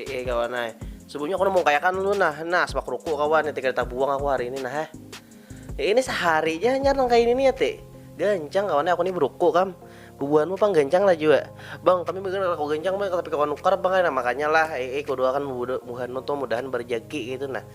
Heeh kawan ay. Sebelumnya aku mau kayak kan lu nah, nah sepak ruku kawan yang tiga buang aku hari ini nah. Eh. Ya, ini seharinya nyar nang kayak ini ya te. Gancang kawan aku ini beruku kam. Bubuhanmu pang gancang lah juga. Bang, tapi mungkin aku gancang bang, tapi kawan nukar bang, nah makanya lah, eh, eh kudu akan bubuhanmu tuh mudahan berjaki gitu nah.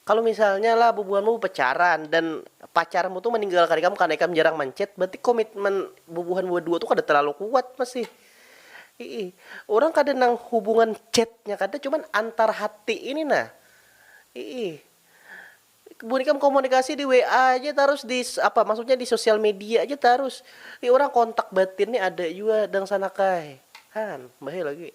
Kalu misalnya lah bubuhanmu bapacaran dan pacarmu tu maninggalkan ikam karna ikam jarang manchat, berarti komitmen bubuhan badua tu kada terlalu kuat masih. Iih. Urang kada nang hubungan chatnya kada, cuman antar hati ini nah. Iih. Buhan ikam komunikasi di WA aja tarus di apa maksudnya di sosial media aja tarus. Iih urang kontak batin nih ada jua dangsanak ai. Han, bahaya lagi.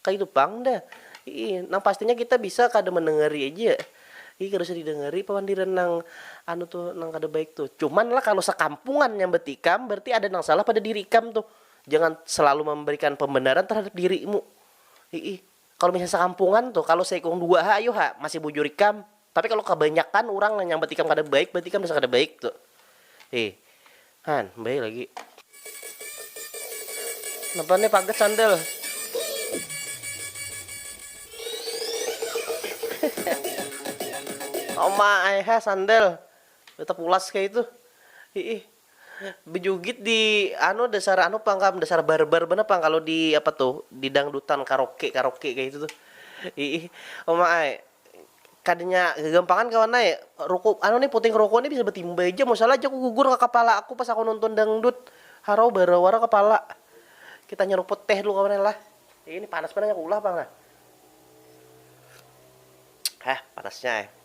Kaitu pang dah. Iih, nang pastinya kita bisa kada mandangari aja. Iih, kada usah didangari pamandiran nang anu tuh, nang kada baik tuh. Cuman lah kalu sakampungan nyambat ikam, berarti ada nang salah pada diri ikam tuh. Jangan selalu mambarikan pambenaran terhadap dirimu. Iih, kalu misalnya sakampungan tuh, kalu saikung dua ha, ayu ha, masih bujur ikam. Tapi kalu kabanyakan urang nang nyambat ikam kada baik berarti ikam dasar kada baik tu. Hi. Han, bae lagi. Napa nih pagat sandal? Oma, ayah sandal. Tetap ulas kayak itu. Hi. Bejugit di anu dasar anu pang kam dasar barbar banar pang kalu di apa tuh di dangdutan karoke karoke kaya itu tuh iih uma ai kadanya gagampangan kawan ai ruku anu nih puting ruku nih bisa batimba haja mun salah haja aku gugur ka kapala aku pas aku nonton dangdut harau barau wara kapala kita nyaruput teh dulu kawan ai lah ini panas banar nya aku ulah pang nah hah panasnya ai.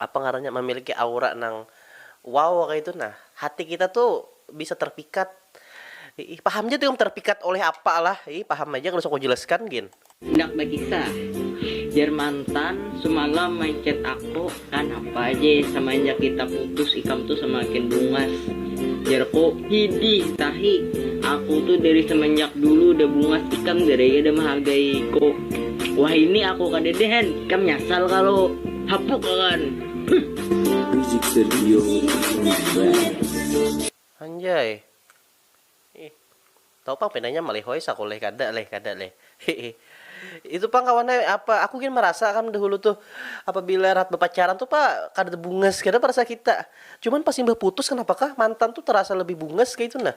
apa ngarannya mamiliki aura nang wow kaitu nah hati kita tu bisa terpikat iih paham ja tu ikam terpikat oleh apa lah iih paham haja kada usah ku jelaskan gin. Handak bakisah, jar mantan sumalam manchat aku kanapa je samanjak kita putus ikam tu samakin bungas jarku. Hidih, tahi. Aku tu dari semenjak dulu udah bungas ikam gerai kada mehargai ku. Wahini aku kadada han, ikam nyasal kalu. Hapuk akan. Huh. Anjay. Ih. Tahu pang pinanya malihoi saku leh kada leh kada leh hiih itu pang kawan ai apa aku gin marasa kan dahulu tuh apabila rahat bapacaran tuh pa kada tebungas kada pa rasa kita cuman pas imbah putus kenapa kah mantan tuh terasa lebih bungas kaitu nah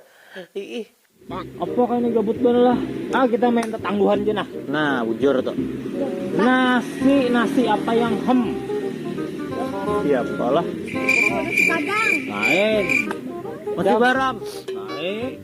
hiih. Pak apa kaya ni gabut banar lah ah kita main tetangguhan ja nah. Nah bujur tu. Nasi nasi apa yang hem. Siapa lah. Nasi padang. Lain. Nasi barang. Lain.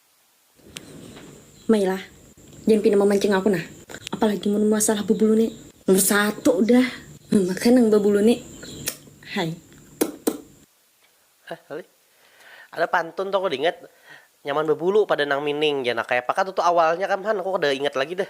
Mai lah, jan pina mamancing aku nah. Apalagi mun masalah bubulu ni. Nomor satu dah, mamakan nang babulu ni. Hai. Ada pantun tu aku kada ingat, nyaman babulu pada nang mining jar nah. Kayapa kah tu tu awalnya kam han, aku kada ingat lagi dah.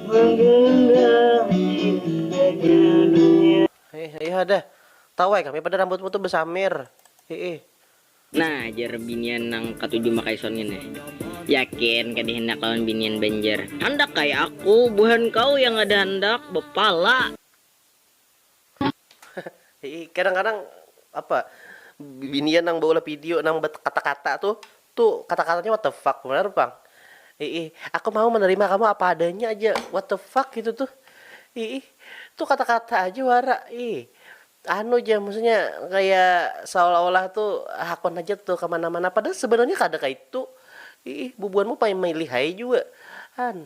Menggenggam indahnya dunia. Hih hih hadah tawai kami pada rambutmu tu besamir hiih. Nah jar binian nang katuju makaison ngini, yakin kada handak lawan binian banjar. Handak ai aku, buhan kau yang kada handak, bepala. Hehe kadang-kadang apa binian nang baulah video nang kata-kata tuh tuh kata-katanya what the fuck benar pang ih aku mau menerima kamu apa adanya aja what the fuck gitu tuh ih tuh kata-kata aja wara ih anu aja maksudnya kayak seolah-olah tuh hakon aja tuh kemana-mana padahal sebenarnya kada kayak itu ih bubuhanmu paling milih aja juga an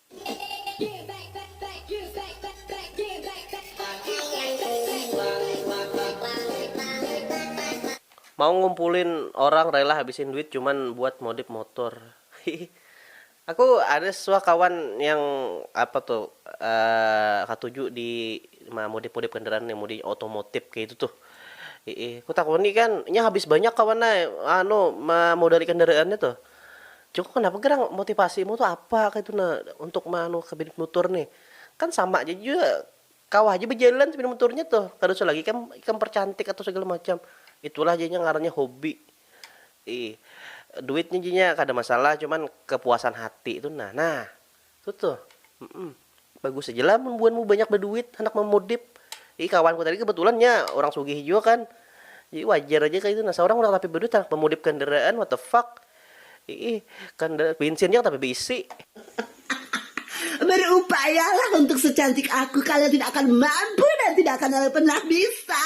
Mau ngumpulin orang rela habisin duit cuman buat modif motor hihi. Aku ada suah kawan yang apa tuh katuju di mamodif modif kendaraan yang model otomotif kaya itu tuh hihi. Kutakuni kan inya habis banyak kawan ai anu mamodali kendaraannya tuh. Joko kenapa gerang motivasi mu tu apa kaitu nah untuk meanu kabinet mutur nih kan sama ja jua kawa haja bejalan sepeda muturnya tuh kada usah lagi ikam ikam percantik atau segala macam itulah janya ngarannya hobi ih duitnya janya kada masalah cuman kepuasan hati tu nah nah. Tutu, mm bagus aja lah mun buanmu banyak baduit handak mamodif, jadi kawanku tadi kebetulan nya urang sugih jua kan, jadi wajar aja kaitu nah saurang urang tapi baduit handak mamodif kandaraan what the fuck, iih kandaraan bensin ja tapi baisi. Berupayalah untuk secantik aku kalian tidak akan mampu dan tidak akan pernah bisa.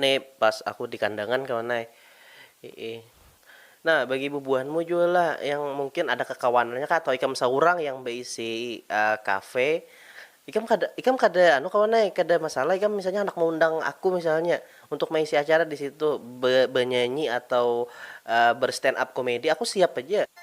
Ni pas aku di kandangan kawan ai. Hiih. Nah, bagi bubuhanmu jua lah yang mungkin ada kakawanannya kah atau ikam saurang yang baisi kafe, ikam kada ikam kada anu kawan ai, kada masalah ikam misalnya handak maundang aku misalnya untuk maisi acara di situ, be benyanyi atau ber stand up komedi aku siap haja.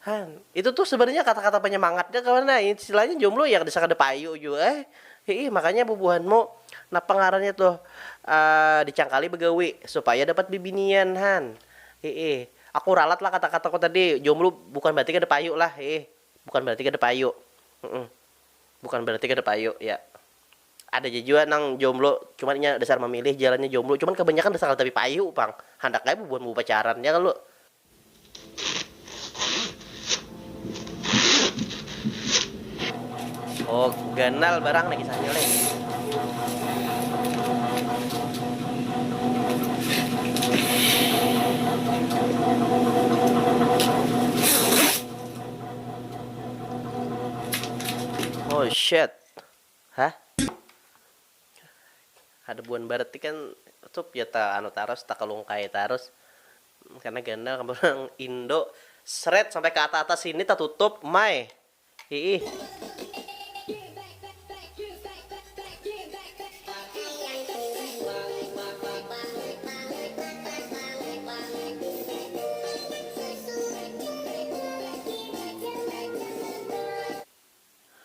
Hang, itu tuh sebenarnya kata-kata penyemangat ja kawan nah, istilahnya jomblo ya kada sakada payu jua ai, hiih makanya bubuhanmu napa ngarannya tuh dicangkali begawi supaya dapat bibinian han, hiih aku ralat lah kata-kataku tadi, jomblo bukan berarti kada payu lah hiih, bukan berarti kada payu, bukan berarti kada payu ya, ada ja jua nang jomblo cuman inya dasar mamilih jalannya jomblo cuman kabanyakan dasar kada tapi payu pang, handak ai bubuhanmu bapacaran ya kalo. Oh, ganal barang nih kisahnya nih. Oh shit. Hah? Ada buan barat kan sup ya ta anu tarus takalungkai tarus. Karena gandal kabar urang indo sret sampai ka ata atas sini tatutup mai hiih.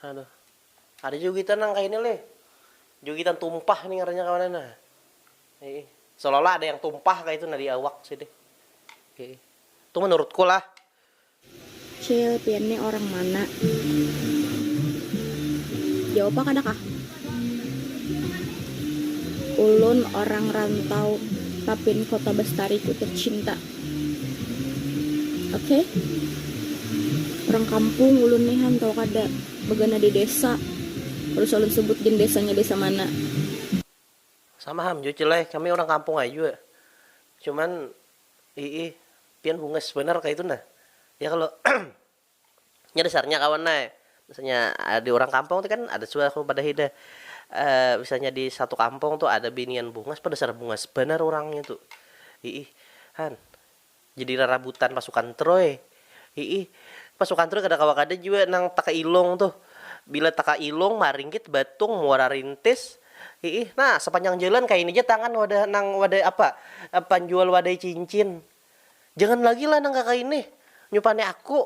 Aduh ada jugitan nang kaya ini lih jugitan tumpah nih ngarannya kawanan nah. Heeh. Seolah olah ada yang tumpah kaitu nah di awak sidin. Heeh. Tu menurutku lah. Cil, pian ni orang mana? Jawab ha kada kah? Ulun orang rantau Tapin Kota Bestariku tercinta. Oke. Orang kampung ulun ni han, tahu kada? Bagana di desa. Kada usah ulun sebut gin desanya desa mana. Sama ham jua cil ai, kami urang kampung ai jua. Cuman iih pian bungas banar kaitu nah ya kalo nya dasarnya kawan ai misalnya di urang kampung tu kan ada suah aku badahi dah misalnya di satu kampung tu ada binian bungas pa dasar bungas banar urangnya tu iih han. Jadi rarabutan pasukan Troy. Hiih, pasukan Troy kada kawa kada jua nang takailung tuh. Bila takailung, maringgit, batung, muara rintis. Hiih, nah sapanjang jalan kaini ja tangan wadah nang wadai apa, panjual wadai cincin. Jangan lagi lah nang kakaini, nyupani aku.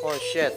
Oh shit.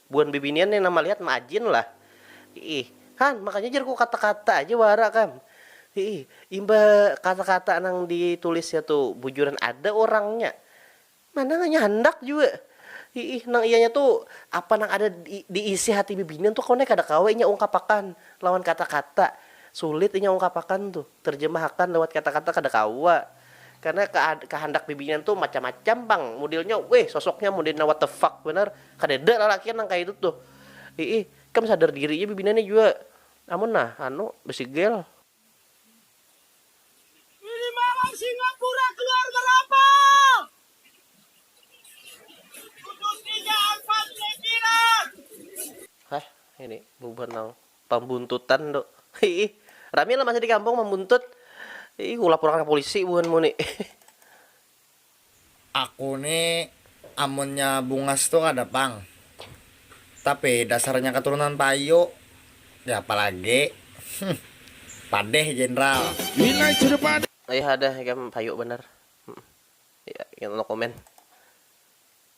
Buhan bibinian nih nang malihat maajin lah. Iih. Han, makanya jar ku kata-kata aja wara kam. Iih. Imbah kata-kata nang ditulisnya tu bujuran ada urangnya. Mana nganya handak jua. Iih. Nang iyanya tu, apa nang ada di isi hati bibinian tu kawan ai kada kawa inya ungkapakan lawan kata-kata. Sulit inya ungkapakan tu. Terjemahakan lewat kata-kata kada kawa. Karena kehandak bibinian tu macam-macam pang. Modelnya, wih sosoknya modelnya what the fuck banar. Kadada lalakian nang kaya itu tuh. Iih, ikam sadar diri ja bibinanya jua. Amun nah, anu, besigel. Ini mawar Singapura keluarga rapat. Putus tiga angkat sekiran. Hah, ini bubuhan nang pambuntutan tu. Iih, rami lah masih di kampung mambuntut. Iih, ulapurakan ka pulisi buhanmu ni. Aku ni amunnya bungas tu kada pang, tapi dasarnya katurunan payu, siapa lagi humm padeh jenderal. Lihada ikam payu banar. Humm. Yaa no comment.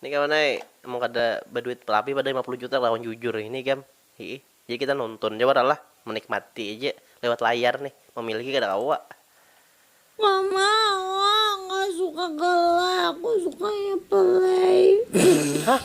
Ini kawan ai, mun kada baduit labih pada lima puluh juta lawan jujur ini gam, hiih. Jadi kita nonton ja wara lah, menikmati aja lewat layar nih, memiliki kada kawa. Mama, Awa nggak suka galak, aku sukanya play. Hah?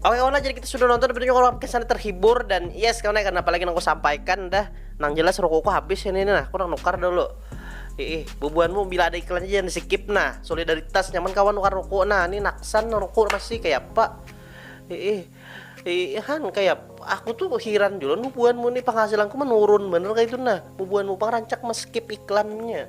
Oke kawan jadi kita sudah nonton tentunya kalau kesannya terhibur dan yes kawan ya, karena apalagi yang aku sampaikan dah nang jelas rukuku habis ini nah aku nang nukar dulu Ih, bubuanmu bila ada iklannya jangan di skip nah solidaritas nyaman kawan nukar ruku nah ini naksan ruku masih kayak apa Ih, ih kan kayak aku tuh heran dulu bubuanmu nih penghasilanku menurun bener kayak itu nah bubuanmu pang rancak meskip iklannya